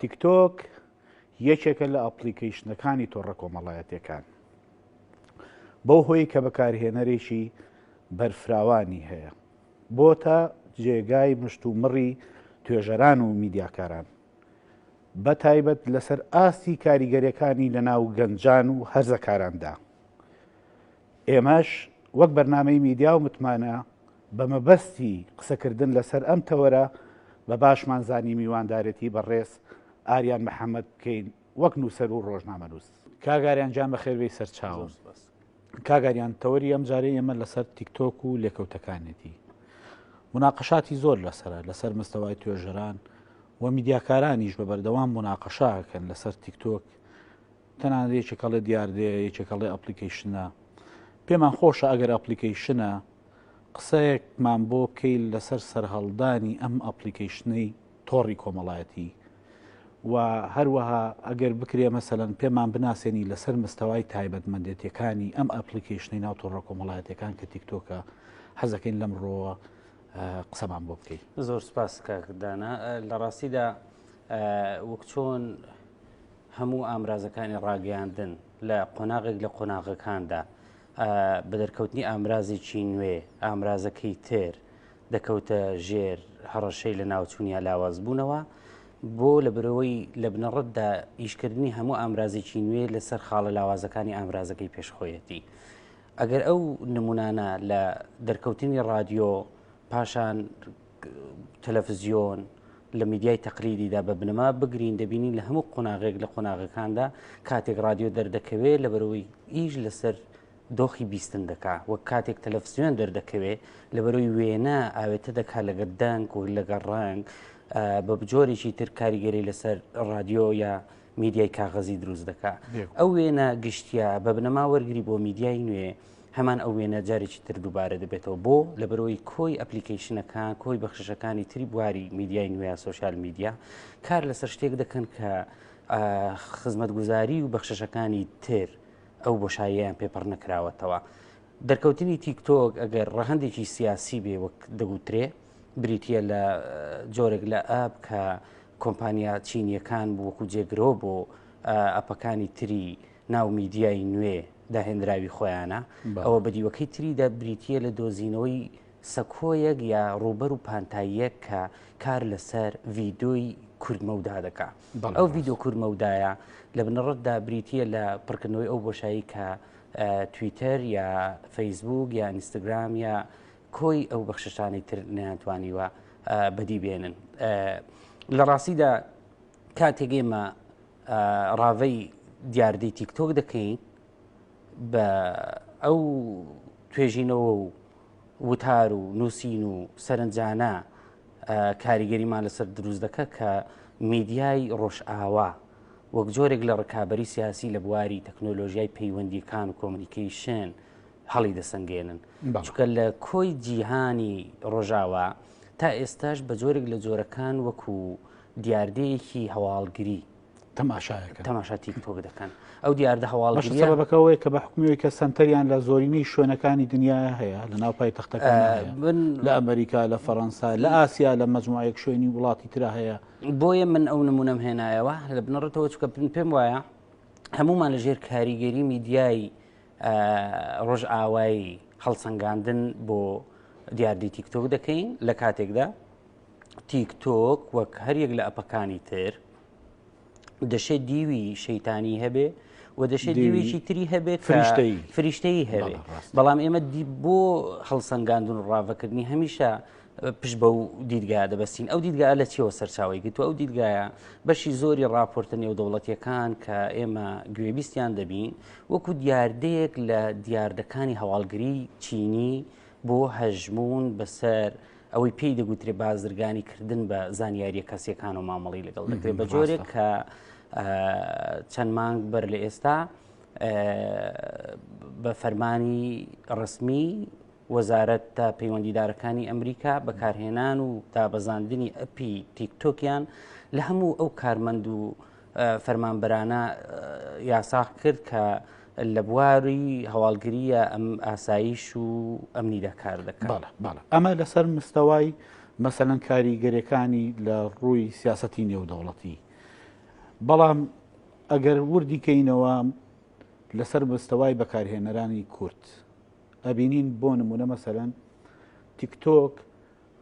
تیکتۆک یەکێکە لە ئەپلیکەیشنەکانی تۆڕە کۆمەڵایەتەکان بەو هۆی کە بەکارهێنەرێکی بەرفراوانی هەیە بۆ تا جێگای مشت و مڕی توێژەران و میدیاکاران بە تایبەت لەسەر ئاستی کاریگەریەکانی لەناو گەنجان و هەرزەکاراندا ئێمەش وەک بەرنامەی میدیا و متمانە بە مەبەستی قسەکردن لەسەر ئەم تەوەرە بە باشمان زانی میواندارێتی بەڕێز ئاریان محەمەد بکەین وەک نووسەر و ڕۆژنامەنووس. کاک ئاریان گیان بەخێربێی سەرچاوم. کاک ئاریان تەوەری ئەمجارەی ئێمە لەسەر تیکتۆک و لێکەوتەکانێتی. موناقەشاتی زۆر لەسەرە لەسەر مستەوای توێژەران و میدیاکارانیش بە بەردەوام موناقەشە ئەکەن لەسەر تیکتۆک تەنانەت یەکێک هەڵێ دیاردەیە یەکێک هەڵێ ئەپلیکەیشنە پێمان خۆشە ئەگەر ئەپلیکەیشنە قسەیەکمان بۆ بکەیت لەسەر سەرهەڵدانی ئەم ئەپلیکەیشنەی تۆڕی کۆمەڵایەتی و هەروەها ئەگەر بکرێ مەسەەن پێمان بناسێنی لەسەر مستەوای تایبەتمەندێتیەکانی ئەم ئەپلیکەیشنەی ناو تۆڕە کۆمەڵایەتەکان کە تیکتۆکە حەزەکەین لەم ڕۆوە قسەمان بۆ بکەیت زۆر سپاس کاکدانە لە ڕاستیدا وەک چۆن هەموو ئامرازەکانی ڕاگەیاندن لە قۆناغێک لە قۆناغەکاندا بە دەرکەوتنی ئامرازێکی نوێ ئامرازەکەی تر دەکەوتە ژێر هەڕەشەی لە ناوچوون یا لاواز بوونەوە بۆ لە برەوەی لە بنەڕەتدا ئیشکردنی هەموو ئامرازێکی نوێ لەسەر خاڵە لاوازەکانی ئامرازەکەی پێشخۆیەتی. ئەگەر ئەو نمونانە لە دەرکەوتنی رادیۆ پاشان تەلەفزیۆن لە میدیای تەقلیدیدا بە بنەما بگرین دەبینین لە هەموو قۆناغێک لە قۆناغەکاندا کاتێک رادیۆ دەردەکەوێت لە بەرەوەی ئیش لەسەر دۆخی بیستن دەکا وە کاتێک تەلەفزیۆن دەردەکەوێت لە بەرەوەی وێنە ئاوێتە دەکا لەگە دەنگ و لەگە ڕنگ بە بجۆرێکی تر کاریگەری لەسەر رادیۆ یا میدیای کاغەزی دروست دەکا ئەو وێنە گشتیا بە بنەما وەرگری بۆ میدیای نوێ هەمان ئەو وێنە جارێکی تر دووبارە دەبێتەوە بۆ لەبەرەوەی کۆی ئەپلیکیشنەکان کۆی بەخشەکانی تری بواری میدیای نوێ سوۆسیال میدیا کار لەسەر شتێک دەکەن کە خزمەت گوزاری و بەخشەکانی تر ئەو بۆشاییان پێپڕ نەکراوەتەوە. دەرکەوتنی تیکتۆک ئەگەر ڕەهندێکی سیاسی بێ وەک دەگوترێ بریتە لە جۆرێک لە ئەپ کە کۆمپانیا چینیەکان بووکو جێگرۆ بۆ ئەپەکانی تری ناو میدیای نوێ داهێنراوی خۆیانە ئەوە بە دیوەکەی تریدا بریتە لە دۆزینەوەی سەکۆیەک یا ڕوبەر و پانتاییەک کە کار لەسەر ڤیدۆی کوردمەودا دەکا ئەو ڤیددیو کوورمەودایە لە بنەڕەتدا بریتە لە پڕکردنەوەی ئەو بۆشایی کە تویتەر یا فەیسبوک یا ئینستاگرام یا کۆی ئەو بەخششانەی تر نیانتوانیوە بەدی بێنن لە ڕاستیدا کاتێک ئێمە ڕاڤەی دیاردەی تیکتۆک دەکەین بە ئەو توێژینەوە و وتار و نووسین و سەرنجانە کاریگەریمان لەسەر دروست دەکە کە میدیای ڕۆژئاوا وەک جۆرێک لە ڕکابی سیاسی لە بواری تەکنۆلۆژیای پەیوەندیەکان و کۆمنیکیشن هەڵی دەسەنگێنن چکە لە کۆی جیهانی ڕۆژاوا تا ئێستاش بە جۆرێک لە جۆرەکان وەکو دیاردەیەکی هەواڵگری تەماشایەکە تەماشا تیکتۆک دەکەن ئەو دیاردە هەواڵەکەەوەی کە بە حکومی کە سنتەریان لە زۆرینەی شوێنەکانی دنیا هەیە لە ناو پای تەختەکە من لە ئەمریکا لە فەڕەنسا لە ئاسیا لە مەجموعەیەک شوێنی وڵاتی تررا هەیە بۆیە من ئەو نمونەم هێنایەوە لە بنەڕێتەوە چکە پن پێم وایە هەمومان لە ژێر کاریگەری میدیایی ڕۆژ ئاوایی هەڵسەنگاندن بۆ دیاردی تیکتۆک دەکەین لە کاتێکدا تیک تۆک وەک هەریەک لە ئەپەکانی تر دەشێت دیوی شەیتانی هەبێ و دەشێت دیوێکی تری هەبێت فریشتەی فریشتەی هەبێ بەڵام ئێمە بۆ هەڵسەنگاندون و ڕاڤکردنی هەمیشە پشت بە و دیدگا دەبستین ئەو دیدگا لە چیەوە سەرچاوی گرت و ئەو دیدگایە بەشی زۆری راپۆرتە نێودەوڵەتیەکان کە ئێمە گوێبیستیان دەبین وەکو دیاردەیەک لە دیاردەکانی هەواڵگری چینی بۆ هەژمون بەسەر ئەوەی پێی دەگوترێ بازرگانی کردن بە زانیاریە کەسیەکان و مامەڵی لەگەڵ دەکرێت بە جۆرێک کە چەند مانگ بەر لە ئێستا بە فەرمانی ڕسمی وەزارەت تا پەیوەندیدارەکانی ئەمریکا بەکارهێنان و دابەزاندنی ئەپی تیکتۆکیان لە هەموو ئەو کارمەند و فەرمانبەرانە یاساخ کرد کە لە بواری هەواڵگریە ئەم ئاساییش و ئەمنی دەکار دەکات ئەمە لەسەر مستەوای مەسەەن کاریگەرەکانی لە ڕووی سیاستی نێودەوڵەتی بەڵام ئەگەر وردی کەینەوە لەسەر مستەوای بەکارهێنەرانی کورت ئەبینین بۆ نمونە مەسەەن تیکتۆک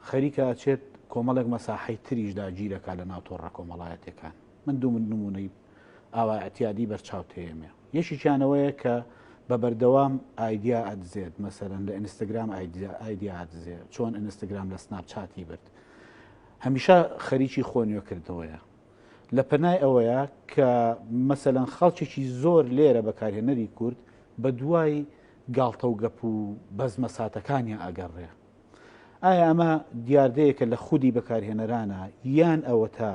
خەریکە ئەچێت کۆمەڵێک مەساحەی تریش داگیر ئەکات لەناو تۆڕە کۆمەڵایەتیەکان. من دوو نموونەی ئاوا ئیعتیادی بەرچاو تێیەمێ. یەکێکیان ئەوەیە کە بە بەردەوام ئایدیا ئەدزێت، مەسەلەن لە ئینستاگرام ئایدیا ئەدزێ، چۆن ئینستاگرام لە سناپ چاتی برد. هەمیشە خەریکی خۆ نوێ کردنەوەیە. لە پەنای ئەوەیە کە مەسەلەن خەڵکێکی زۆر لێرە بەکارهێنەری کورد بە دوای گاڵتە و گەپ و بەزمە ساتەکانیان ئەگەڕێ. ئایا ئەمە دیاردەیەکە لە خودی بەکارهێنەرانە یان ئەوەتا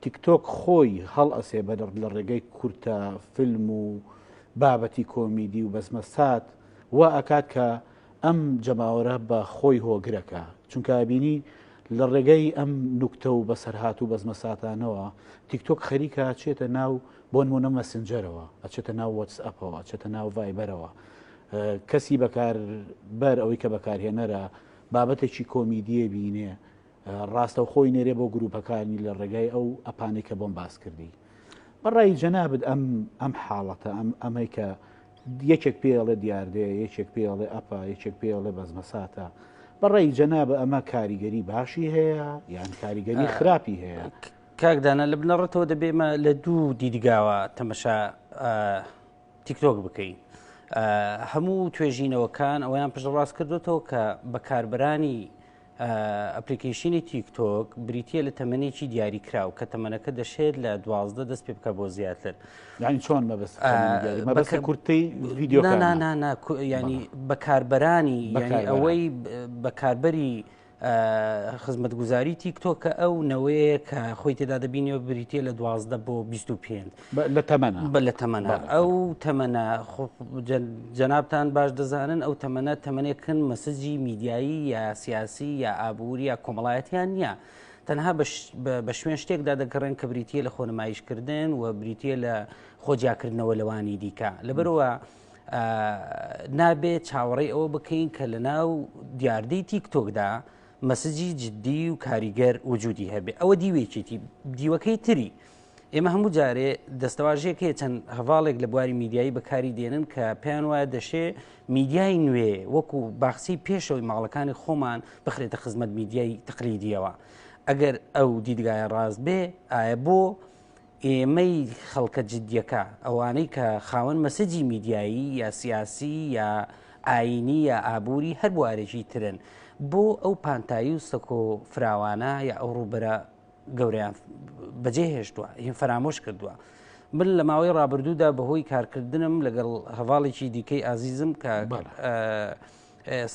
تیکتۆک خۆی هەڵ ئەسێ بە لە ڕێگەی کورتە فیلم و بابەتی کۆمیدی و بەزمە سات وا ئەکات کە ئەم جەماوەرە بە خۆی هۆگرەکە چونکە بینی لە ڕێگەی ئەم نوکتە و بەسەرهات و بەزمە ساتانەوە تیکتۆک خەریکە چێتە ناو بۆ نمونە مەسنجەرەوە ئەچێتە ناو وەتس ئەپەوە ئەچێتە ناو ڤایبەرەوە کەسی بەکاربەر ئەوەی کە بەکارهێنەرە بابەتێکی کۆمیدیە بینێ ڕاستە خۆی نێرێ بۆ گروپەکانی لە ڕێگای ئەو ئەپانەی کە بۆم باس کردی بەڕای جەنابت ئەم ئەم حاڵەتە ئەم ئەمەی کە یەکێک پێڵێ دیاردەیە یەکێک پێڵێ ئەپا یەکێک پێڵێ بەزمەساتە بەڕێی جەنابە ئەمە کاریگەری باشی هەیە یان کاریگەری خراپی هەیە کاکدانە لە بنەڕەتەوە دەبێمە لە دوو دیدگاوە تەمەشا تیکتۆک بکەین هەموو توێژینەوەکان ئەویان پشتڕاست کردوێتەوە کە بەکاربرانی ئەپلیکیشنی تیکتۆک بریتە لە تەمەێکی دیاری کراو کە تەمەەکە دەشێت لە دوازدە دەست پێ بکە بۆ زیاتر یعنی چۆن مەبست مەبەکە کورتی ویددیو ینی بەکاربرانی ئەوەی بەکاربەری خزمەتگوزاری تیکتۆک کە ئەو نەوەیە کە خۆی تێدا دەبینەوە بریتە لە دوازدە بۆ 25 لە تەمەە بە لە تەمەە ئەو تەمەە جەنابان باش دەزانن ئەو تەمەە تەمەێکن مەسجی میدیایی یا سیاسی یا ئابووری یا کۆمەڵایەتیان نییە. تەنها بە شوێن شتێکدا دەگەڕێن کە بریتە لە خۆنمایشکردن و بریتە لە خۆجیاکردنەوە لەوانی دیکە لەبەرەوە نابێت چاوەڕێ ئەوە بکەین کە لە ناو دیاردەی تیکتۆکدا مەسجی جددی و کاریگەر وجودی هەبێ ئەوە دیوێکێتی دیوەکەی تری ئێمە هەموو جارێ دەستەواژەیەکێ چەند هەواڵێک لە بواری میدیایی بەکاری دێنن کە پێیان وایە دەشێ میدیای نوێ وەکو باخچی پێشەوەی ماڵەکانی خۆمان بخرێتە خزمەت میدیای تقلیدیەوە ئەگەر ئەو دیدگایە ڕاست بێ ئایا بۆ ئێمەی خەڵکە جدیەکە، ئەوانەی کە خاوەن مەسەجی میدیایی یا سیاسی یا ئایینی یا ئابووری هەر بوارێکی ترن، بۆ ئەو پانتایی و سەکۆ فراوانە یا ئەو ڕووبەرە گەورەیان بەجێ هێشتووە، یان فەرامۆش کردووە. من لە ماوەی ڕابردوودا بەهۆی کارکردنم لەگەڵ هەڤاڵێکی دیکەی ئازیزم کە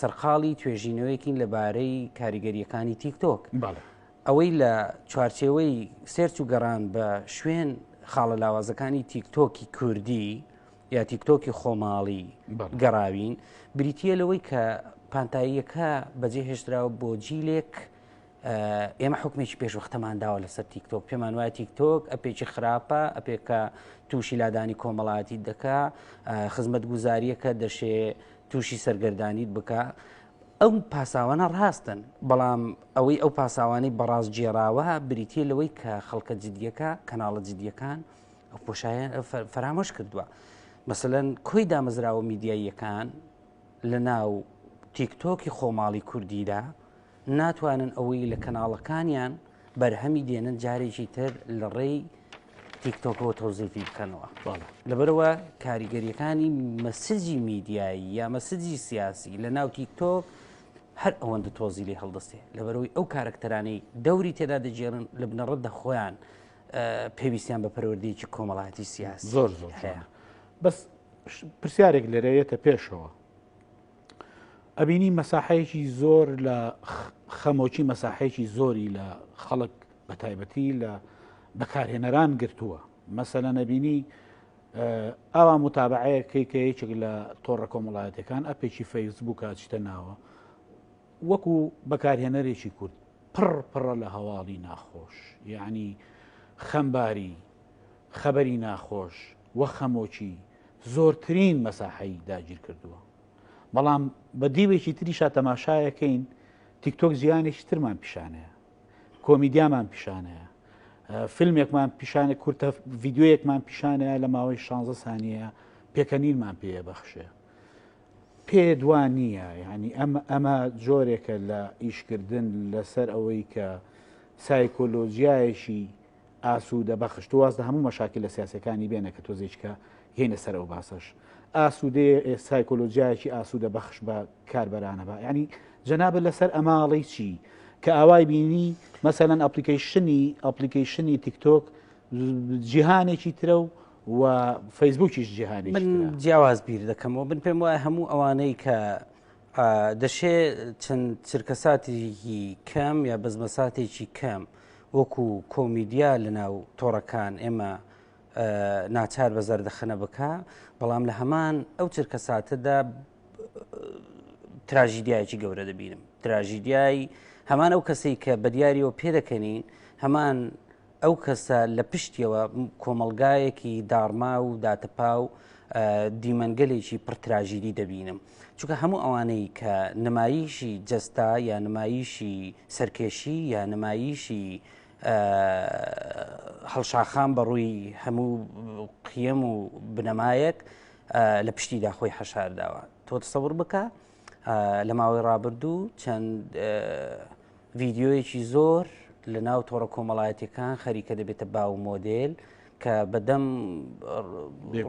سەرقاڵی توێژینەوەیەکین لەبارەی کاریگەریەکانی تیکتۆک. ئەوەی لە چوارچێوەی سێرچ و گەڕان بە شوێن خاڵە لاوازەکانی تیکتۆکی کوردی یا تیکتۆکی خۆماڵی گەڕاوین بریتە لەوەی کە پانتاییەکە بەجێ هێشتراوە بۆ جیلێک ئێمە حکومێکی پێشوەختەمان داوە لەسەر تیکتۆک پێمان وایە تیکتۆک ئەپێکی خراپە ئەپێکە تووشی لادانی کۆمەڵاتی دەکا خزمەت گوزاریەکە دەشێ تووشی سەرگەردانیت بکە ئەو پاساوانە ڕاستن بەڵام ئەوەی ئەو پاساوانەی بەڕاست جێراوە بریتە لەوەی کە خەڵکە جددیەکە کەناڵە جددیەکان ئەو پۆشایەن فەرامۆش کردووە مەسەەن کۆی دامەزراوە میدیاییەکان لە ناو تیکتۆکی خۆماڵی کوردیدا ناتوانن ئەوەی لە کەناڵەکانیان بەرهەمی دێنن جارێکی تر لە ڕێی تیکتۆکەوە تۆزیفی بکەنەوە لەبەرەوە کاریگەریەکانی مەسجی میدیایی یا مەسجی سیاسی لە ناو تیکتۆک هەر ئەوەندە تۆزی لێ هەڵدەستێ لەبەرەوەی ئەو کارکتەرانی دەوری تێدا دەجێرن لە بنەڕەت دە خۆیان پێویستیان بە پەروەردەیەکی کۆمەڵایەتی سیاسی زۆر زۆر هەیە بەس پرسیارێک لەرەیەتە پێشەوە ئەبینی مەساحەیەکی زۆر لە خەمۆکی مەساحەیەکی زۆری لە خەڵک بە تایبەتی لە بەکارهێنەران گرتووە مەسەلە نەبینی ئاوا متابعەیە کەیکەیەچێک لە تۆڕە کۆمەڵایەتەکان ئەپێکی فەیسبووکە چتە ناوە وەکو بەکارهێنەرێکی کورد پڕ پڕە لە هەواڵی ناخۆش یعنی خەمباری خەبەری ناخۆش وە خەمۆکی زۆرترین مەساحەی داگیر کردووە بەڵام بە دیوێکی تریشا تەماشایەکەین تیکتۆک زیانێکی ترمان پیشانەیە کۆمیدیامان پیشانەیە فیلمێکمان پیشانە کورتە ڤیددیوەیەکمان پیشانەیە لە ماوەی 16 سانیە پێکەنینمان پێە بەخشێ پێ دوان نییە ینی ئەمە ئەمە جۆرێکە لە ئیشکردن لەسەر ئەوەی کە سایکۆلۆژیایەکی ئاسوودە بەخش تۆ واز لە هەموو مەشاکیلە سیاسیەکانی بێنە کە تۆزێ هیچ کە هێنە سەر ئەو باسەش ئاسوودەیە سایکۆلۆژیایەکی ئاسوودە بەخش بە کاربەرانە بە ینی جەنابە لەسەر ئەماڵی چی کە ئاوای بینی مەسەەن ئەپلیکیشنی ئەپلیکیشنی تیکتۆک جیهانێکی ترە و و فەیسبوکیش جیهانی من جیاواز بیر دەکەمەوە بن پێم وایە هەموو ئەوانەی کە دەشێ چەند چرکەساتێکی کەم یا بەزمەساتێکی کەم وەکو کۆمیدیا لە ناو تۆڕەکان ئێمە ناچار بە زەردەخەنە بکە بەڵام لە هەمان ئەو چرکە ساتەدا تراژیدایکی گەورە دەبینم تراژیدیای هەمان ئەو کەسەی کە بە دیاریەوە پێدەکەنین هەمان ئەو کەسە لە پشتیەوە کۆمەلگایەکی داڕما و داتەپا و دیمەنگەلێکی پڕتراژیدی دەبینم چونکە هەموو ئەوانەی کە نمایشی جەستا یا نمایشی سەرکێشی یا نمایشی هەڵشاخان بەڕووی هەموو قیم و بنەمایەک لە پشتیدا خۆی حەشارداوە تۆ تسەور بکە لە ماوەی ڕابردوو چەند ڤیددیویەکی زۆر لە ناو تۆڕە کۆمەڵایەتەکان خەریکە دەبێتە باو مۆدل کە بەدەم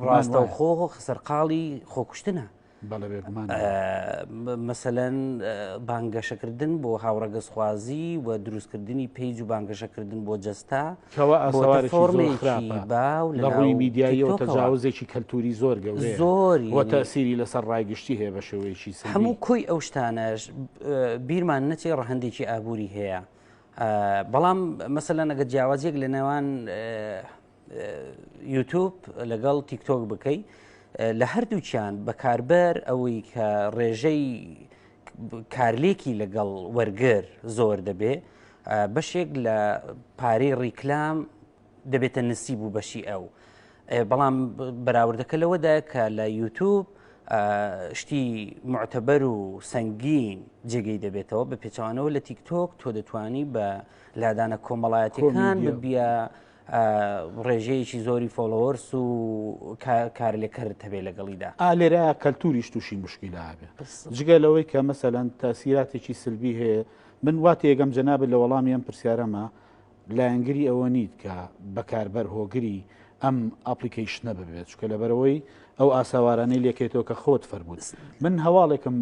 ڕاستە خۆ سەرقاڵی خۆکوشتنە مەسەەن بانگەشەکردن بۆ هاوڕەگەزخوازی و دروستکردنی پیج و بانگەشەکردن بۆ جەستا کوا ئاسەوارێکی زۆر خراپە لە ڕووی میدیاییەوە تەجاوزێکی کەلتوری زۆر گەورەیە زۆری وە تەسیری لەسەر ڕایگشتی هەیە بە شێوەیەکی هەموو کۆی ئەو شتانەش بیرمان نەچێ ڕەهندێکی ئابووری هەیە بەڵام مەسەلا نەگە جیاوازیەک لە نێوان یوتوب لەگەڵ تیکتۆک بکەی لە هەردووچیان بەکاربەر ئەوەی کە ڕێژەی کارلێکی لەگەڵ وەرگر زۆر دەبێ بەشێک لە پارەی ڕیکلام دەبێتە نسیب و بەشی ئەو بەڵام بەراوردەکە لەوەدا کە لە یوتوب شتی معتەبەر و سەنگین جێگەی دەبێتەوە بە پێچوانەوە لە تیکتۆک تۆ دەتانی بە لادانە کۆمەڵایەتەکان بە بیا ڕێژەیەکی زۆری فۆڵۆوەرس و کارلێکەرت هەبێ لەگەڵیدا ئالێرا کەلتوریش تووشی مشکیلا هەبێ جگە لەوەی کە مەسەلەن تاسیراتێکی سلبی هەیە من وات یەگەم جەناب لە وەڵامی ئەم پرسیارەمە لایەنگری ئەوە نیت کە بەکاربەر هۆگری ئەم ئاپلیکیشنە ببێت چکە لەبەرەوەی ئەو ئاساوارانەی لەکەێتەوە کە خۆت فەرمووت من هەواڵێکم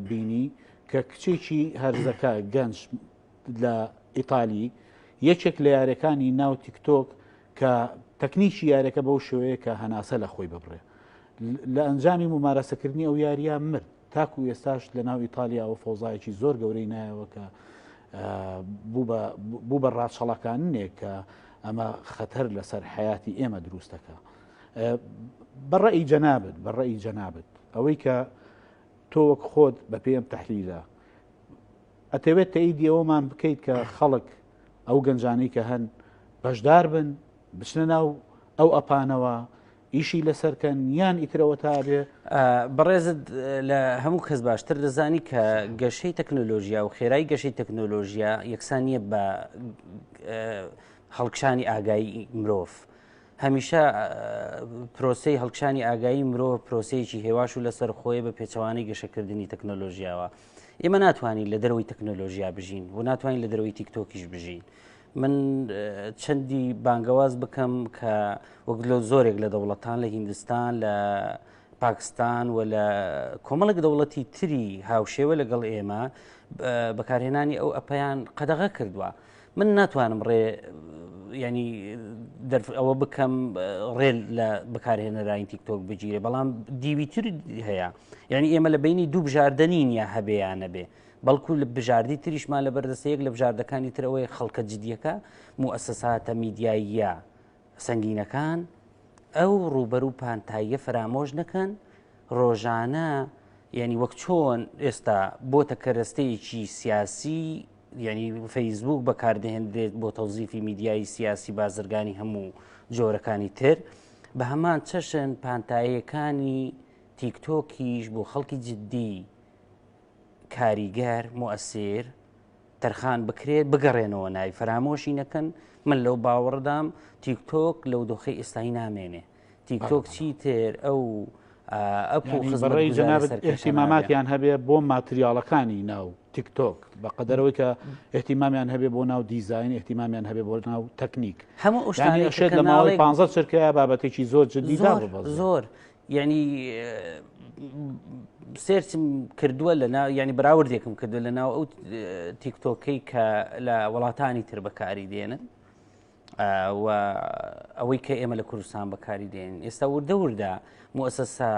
بینی کە کچێکی هەرزەکە گەنج لە ئیتالی یەکێک لە یارەکانی ناو تیکتۆک کە تەکنیکی یارەکە بەو شوەیە کە هەناسە لە خۆی ببڕێ لە ئەنجامی ممارەسەکردنی ئەو یاریە مرد تاکو ئێستاش لە ناو ئیتالیاوە فۆزایەکی زۆر گەورەی نایەوە کە بوو بە ڕاچەڵەکانێک کە ئەمە خەتەر لەسەر حیاتی ئێمە دروستەکە بەڕێی جەنابەت بەڕێی جەنابەت ئەوەی کە تۆ وەک خۆت بە پێم تحلیلە ئەتەوێت تەئیدی ئەوەمان بکەیت کە خەڵک ئەو گەنجانی کە هەن بەشدار بن بچنە ناو ئەو ئەپانەوە ئیشی لەسەرکەن یان ئیترەوە تا بێ بەڕێزت لە هەموو کەس باشتر دەزانی کە گەشەی تەکنۆلۆژیا و خێرای گەشەی تەکنۆلۆژیا یەکسانیە بە هەڵکشانی ئاگایی مرۆڤ. هەمیشە پرۆسی هەڵکشانی ئاگایی مرۆ پرۆسەیەکی هێواش و لەسەر خۆی بە پێچەوانەی گەشەکردنی تەکنۆلۆژیاوە ئێمە ناتوانین لە دەرەوەی تەکنۆلۆژیا بژین و ناتوانین لە دەرەوەی تیکتۆکیش بژین من چەندی بانگەواز بکەم کە وەک لە زۆرێک لە دەوڵەتان لە هیندستان لە پاکستان و لە کۆمەڵک دەوڵەتی تری هاوشێوە لەگەڵ ئێمە بەکارهێنانی ئەو ئەپیان قەدەغە کردووە من ناتوانم ڕێ ینی ئەوە بکەم ڕێل لە بەکارهێنەراین تیکتۆک بگیرێ بەڵام دیویتر هەیە یعنی ئێمە لە بینی دوو بژاردە نین یا هەبێ یا نەبێ بەڵکو لە بژاردی تریشمان لە بەردەستە یەک لە بژاردەکانی ترەوەی خەڵکە جدیەکە موسەساتە میدیاییە سنگینەکان ئەو ڕوبەر و پانتاییە فەرامۆش نەکەن ڕۆژانە یعنی وەک چۆن ئێستا بۆتە کەرەستەیەکی سیاسی یعنی فەیسبوک بەکاردەهێنرێت بۆ تەوزیفی میدیایی سیاسی بازرگانی هەموو جۆرەکانی تر بە هەمان چەشن پانتایەکانی تیکتۆکیش بۆ خەڵکی جددی کاریگەر موئسیر تەرخان بکرێت بگەڕێنەوە نای فەرامۆشی نەکەن من لەو باوەڕدام تیکتۆک لەو دۆخی ئێستای نامێنێ تیکتۆک چی تر ئەو ئەپڕی جەنابماماتیان هەبێ بۆ ماتریاڵەکانی ناو تیکتۆک بە قەدەرەوەی کە احتیمامیان هەبێ بۆ ناو دیزین احتیمامیان هەبێ بۆ ناو تەکنیک هەموو شێت لە ماوەی پ چرکە بابەتێکی زۆر جدی زۆر زۆر یعنی سێرچم کردووە لە ینی براوردێکم کردو لە ناو ئەو تیکتۆکەی کە لە وڵاتانی تر بەکاری دێنن و ئەوەی کە ئێمە لە کوردستان بەکاری دێن ئێستا وردە وردە موسەسا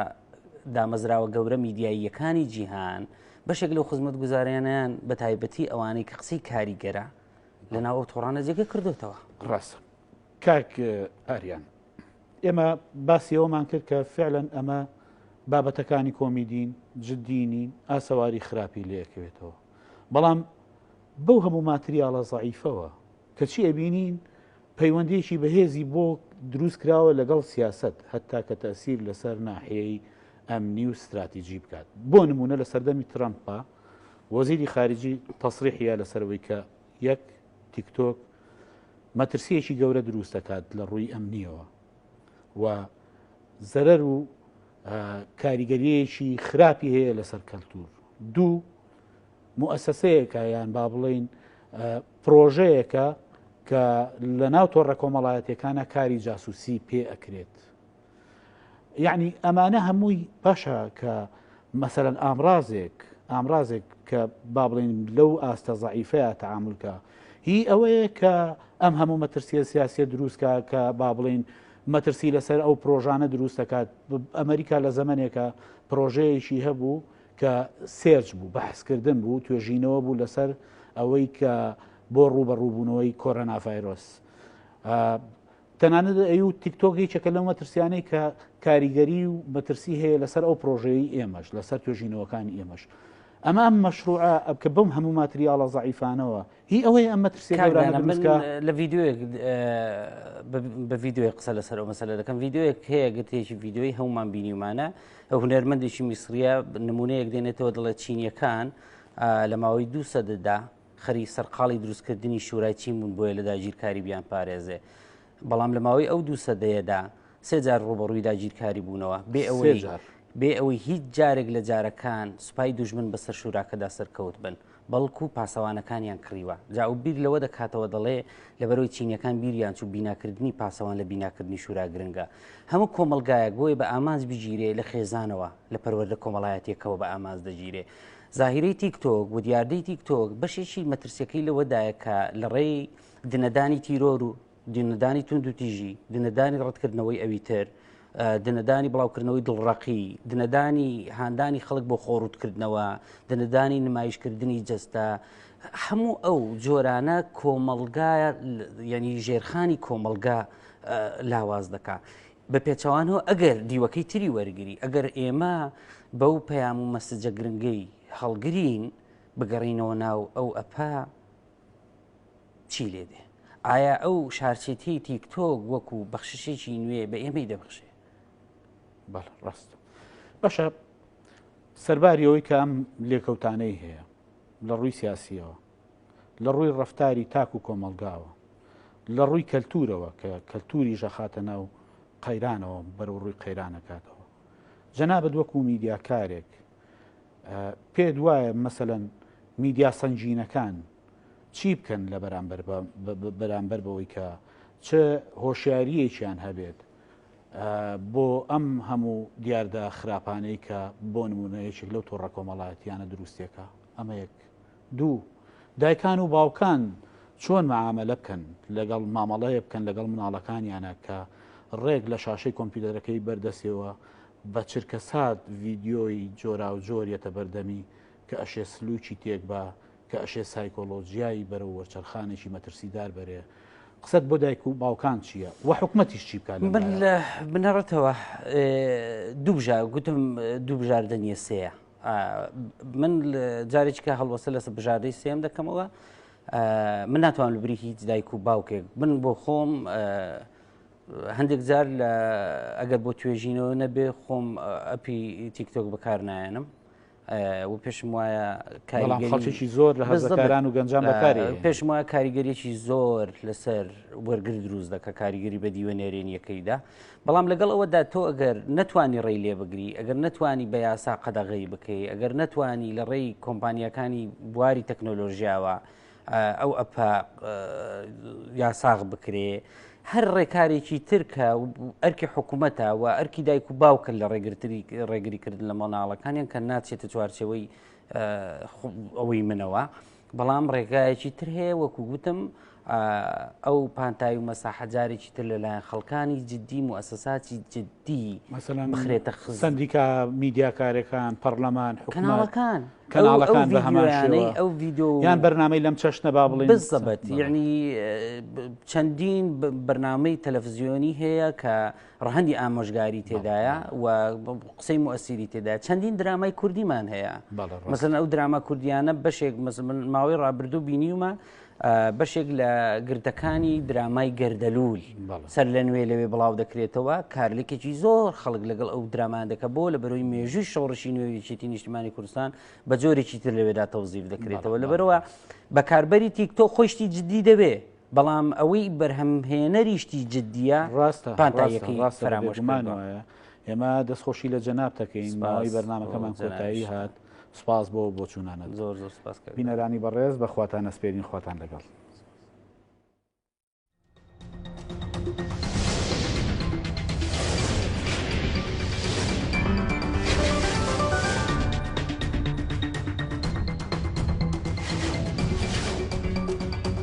دامەزراوە گەورە میدیاییەکانی جیهان بەشێک لەو خزمەت گوزاریانیان بە تایبەتی ئەوانەی کە قسەی کاریگەرە لە ناو ئەو تۆڕانە جێگە کردوێتەوە ڕاستە کاک ئاریان ئێمە باسی ئەومان کرد کە فعلەن ئەمە بابەتەکانی کۆمیدین جددینی ئاسەواری خراپی لەکەوێتەوە بەڵام بەو هەموو ماتریاڵە زعیفەوە کەچی ئەبینین پەیوەندێکی بەهێزی بۆ دروست کراوە لەگەڵ سیاست هەتا کە تەسیر لەسەر ناحەیەی ئەمنی و استراتیجی بکات بۆ نمونە لە سەردەمی ترامپا وەزیری خارجی تەسریحە لەسەرەوەی کە یەک تیکتۆک مەترسیەکی گەورە دروست دەکات لە ڕووی ئەمنیەوە و زەرەر و کاریگەریەکی خراپی هەیە لەسەر کەلتور دوو مؤسسەیەکە یان با بڵین پرۆژەیەکە کە لە ناو تۆڕە کۆمەڵایەتەکانە کاری جاسوسی پێ ئەکرێت یعنی ئەمانە هەمووی باشە کە مەسەرەن ئامرازێک ئامرازێک کە با بڵین لەو ئاستە زعیفەیە تعاملکە هی ئەوەیە کە ئەم هەموو مەترسیە سیاسە دروستکە کە با بڵین مەترسی لەسەر ئەو پرۆژانە دروست دەکات ئەمریکا لە زەمنێکە پرۆژەیەکی هەبوو کە سێرچ بوو بەحسکردن بوو توێژینەوە بوو لەسەر ئەوەی کە بۆ ڕوبەڕووبوونەوەی کۆرەناڤایرۆس تەنانەت ئەی و تیکتۆک یەکێکە لەو مەترسیانەی کە کاریگەری و مەترسی هەیە لەسەر ئەو پرۆژەی ئێمەش لەسەر توێژینەوەکانی ئێمەش ئەمە ئەم مەشروع ئەبکە بم هەموو ماتریاڵە زعیفانەوە هی ئەوەی ئەم مەترسی لە ڤیددیوێک بە ڤیددیوی قسە لەسەر ئەو مەسەلە دەکەم ڤیددیوێک هەیە گرتێکی ڤیددیوی هەومان بینیمانە ئەو هونەرمەندێکی میسریە نمونەیەک دێنێتەوە دڵێت چینیەکان لە ماوەی دوو سەدەدا خەریک سەرقاڵی دروستکردنی شورای چین بوون بۆیە لە داگیرکاری بیان پارێزێ بەڵام لە ماوەی ئەو دوو سەدەیەدا سێ جار ڕوبەڕووی داگیرکاری بوونەوە بێ ئەوەی بێ ئەوەی هیچ جارێک لە جارەکان سوپای دوژمن بەسەر شوراکەدا سەرکەوت بن بەڵکو و پاسەوانەکانیان کڕیوە جا و بیر لەوە دەکاتەوە دەڵێ لەبەرەوەی چینەکان بیریان چوو بیناکردنی پاسەوان لە بیناکردنی شورا گرنگە هەموو کۆمەلگایەک بۆی بە ئامانج بگیرێ لە خێزانەوە لە پەروەەردە کۆمەڵایەتەکەەوە بە ئامانز دەگیرێ زاهیرەی تیک تۆک و دیاردەی تیک تۆک بەشێکی مەترسیەکەی لەوەدایە کە لە ڕێی دنەدانی تیرۆر و دنەدانی تونند و تیژی دنەدانی ڕەتکردنەوەی ئەوی تر دنەدانی بڵاوکردنەوەی دڵڕقی دنەدانی هاندانی خەڵک بۆ خۆڕوتکردنەوە دنەدانی نمایشکردنی جەستە هەموو ئەو جۆرانە کۆمەلگا ینی ژێرخانی کۆمەلگا لاواز دەکات. بە پێچەوانەوە ئەگەر دیوەکەی تری وەرگری ئەگەر ئێمە بەو پەیام و مەسجە گرنگەی هەڵگرین بگەڕینەوە ناو ئەو ئەپە چی لێ دێ ئایا ئەو شارچێتی تیکتۆک وەکو بەخششێکی نوێ بە ئێمەی دەبخشێ بەڵ ڕاست بەشە سەرباری ئەوەی کە ئەم لێکەوتانەی هەیە لە ڕووی سیاسیەوە لە ڕووی ڕەفتاری تاک و کۆمەڵگاوە، لە ڕووی کەلتوورەوە کە کەلتووریش ئەخاتە ناو قەیرانەوە بەرەو ڕووی قەیران ئەکاتەوە. جەنابت وەکوو میدیاکارێک پێت وایە مەسەلەن میدیا سەنگینەکان چی بکەن لە بەرامبەر بەرامبەر بەوەی کە چ هۆشیاریەکیان هەبێت بۆ ئەم هەموو دیاردە خراپانەی کە بۆ نمونەیەکێک لەو تۆڕە کۆمەڵایەتیانە دروستێکە ئەمە یەک دوو، دایکان و باوکان چۆن مەعامەلە بکەن لەگەڵ مامەڵەیە بکەن لەگەڵ مناڵەکانیانە کە ڕێک لە شاشەی کۆمپیوتەرەکەی بەردەسێەوە بە چرکەسات ڤیدیۆی جۆراوجۆر یەتە بەردەمی کە ئەشێ سلوکی تێک با کە ئەشێ سایکۆلۆجیایی بەرەو وەرچەرخانێکی مەترسیدار بەرێ قسەت بۆ دایک و باوکان چییە و حکومەتیش چی بکات من لە بنەڕەتەوە دوبژە گوتم دوبژاردە نیە سەیە من جارێکی کە هەڵوەسە لەسە بژاردەی سێم دەکەمەوە من ناتوان لەبری هیچ دایک و باوکێک من بۆ خۆم هەندێک جار لە ئەگەر بۆ توێژینەوە نەبێ خۆم ئەپی تیکتۆک بەکار نایەنم و پێشم وایە کاریگەریی زۆر لە هەزەکاران و گەنجان بەکاری پێشم وایە کاریگەریی زۆر لەسەر وەرگر دروست دەکە کاریگەری بە دیوە نێرێنیەکەیدا بەڵام لەگەڵ ئەوەدا تۆ ئەگەر نەتوانی ڕێی لێ بگری ئەگەر نەتوانی بە یاسا قەدەغی بکەی ئەگەر نەتوانی لە ڕێی کۆمپانیەکانی بواری تەکنۆلۆژیاوە ئەو ئەپ یاساغ بکرێ هەر ڕێکارێکی ترکە ئەرکی حکوومەتە و ئەرکی دایک و باوکن لە ڕێگرتری ڕێگریکردن لە مۆناڵەکانیان کە ناچێتە چوارچەوەی ئەوەی منەوە بەڵام ڕێگایەکی تر هەیە وەکو گوتم ئەو پانتایی و مەساحە جارێکی تر لەلایەن خەڵکانی جددی موسەساتی جددی مەسەلەن بخرێتە خز سندیکا میدیاکارەکان پەرلەمان حکومەکان کەناڵەکان بە هەمانەی ئەو ڤیددیو یان بەرنمەی لەم چەشنە با بڵێ بزەبەت یعنی چەندین بەرنمەی تەلەڤزیۆنی هەیە کە ڕەهەندی ئامۆژگاری تێدایە و قسەی موسیری تێدا چەندین درامای کوردیمان هەیە مەسن ئەو دراما کوردیانە بەشێک ماوەی ڕابردوو بینیومە بەشێک لە گردەکانی درامای گەردەلوول سەر لە نوێ لەوێ بڵاو دەکرێتەوە کارلێکێکی زۆر خەڵک لەگەڵ ئەو درامان دەکە بۆ لە بەرەوەی مێژووی شۆڕشی نوێویچێتی نیشتمانی کوردستان بە جۆرێکی تر لەوێدا تەوزیف دەکرێتەوە لەبەرەوە بەکاربەری تیکتۆ خۆشتی جددی دەبێ بەڵام ئەوەی بەرهەمهێنەریشتی جددیە ڕاستە پانتاییەکەی ڕاستە فەرامۆش گومان کردووە. وایە ئێمە دەست خۆشی لە جەناب دەکەین سپاس ماوەی بۆ بەرنمەکەمان جەنابیشتان. کۆتایی هات سپاس بۆ بۆچوونانەت زۆر زۆر سپاس کاک دانا. بینەرانی بەڕێز بە خواتان ئەسپێرین خواتان لەگەڵ.